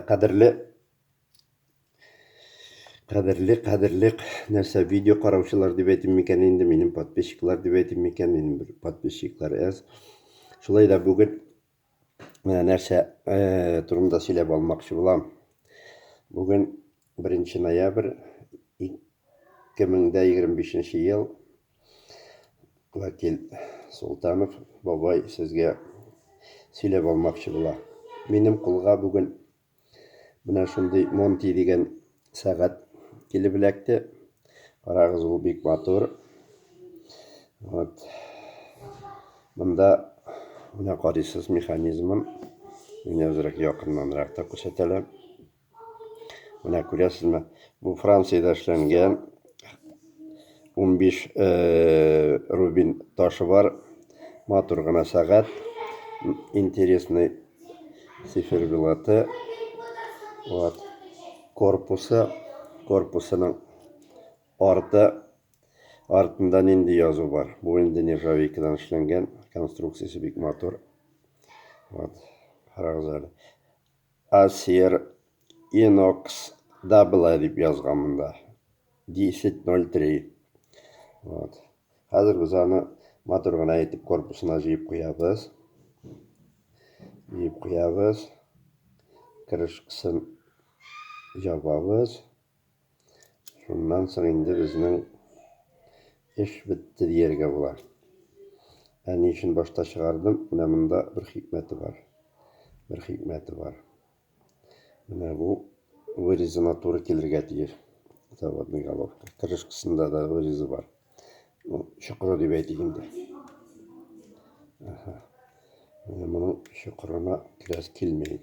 Кадерле Кадерле, кадерле, нәрсә видео караучылар дип әйтим микән инде, минем подписчиклар дип әйтим микән, минем бер подписчиклар әз. Шулай да бүген менә нәрсә э, турында сөйләп алмакчы булам. Бүген 1 ноябрь 2025 ел Вәкил Солтанов бабай сезгә сөйләп алмакчы була. Минем кулга бүген менә шундый Монти дигән сәгать килеп эләкте. Карагыз, ул бик матур. Вот. Монда менә карыйсыз механизмын. Мин әзрәк якыннанрак та күрсәтәләм. Менә күрәсезме, бу Франциядә эшләнгән 15 э, рубин ташы бар. Матур гына сәгать. Интересный циферблаты. Вот. Корпусы, корпусының арты артында нинди язу бар. Бу инде нержавейкадан эшләнгән, конструкциясе бик матур. Вот. Карагыз әле. Acer Inox да болай дип язган монда. 10.03. Вот. Хәзер без аны матур гына итеп корпусына җыеп куябыз. Җыеп куябыз. Крышкасын ябабыз. Шуннан соң инде безнең эш бетте дияргә була. Ә ни өчен башта чыгардым? Менә монда бер хикмәте бар. Бер хикмәте бар. Менә бу вырезына туры килергә тиеш. Заводный головка. Крышкасында да вырезы бар. Ну, чокыры дип әйтик инде. Ага. Менә моның чокырына керәс килмәй.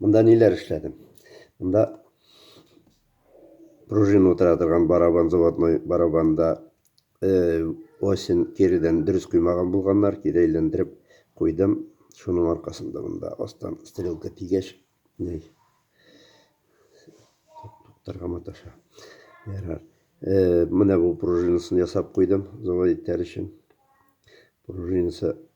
Монда ниләр эшләдем? Монда пружина утыра торган барабан, заводной барабанда э, осен киридән дөрес коймаган булганнар, кире әйләндереп куйдым. Шуның аркасында монда астан стрелка тигәч, ней. Туктарга маташа. Ярар. Э, менә бу пружинасын ясап куйдым, завод итәр өчен. Пружинасы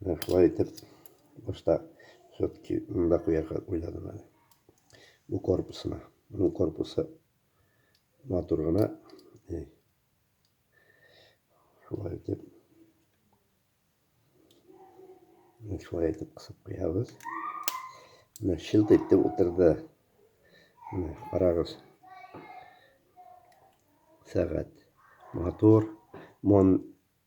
Менә шулай итеп, башта все-таки монда куярга уйладым әле. Бу корпусына. Моның корпусы матур гына. Шулай итеп. Менә шулай итеп кысып куябыз. Менә шилт итеп утырды. Менә карагыз. Сәгать. Матур. Мон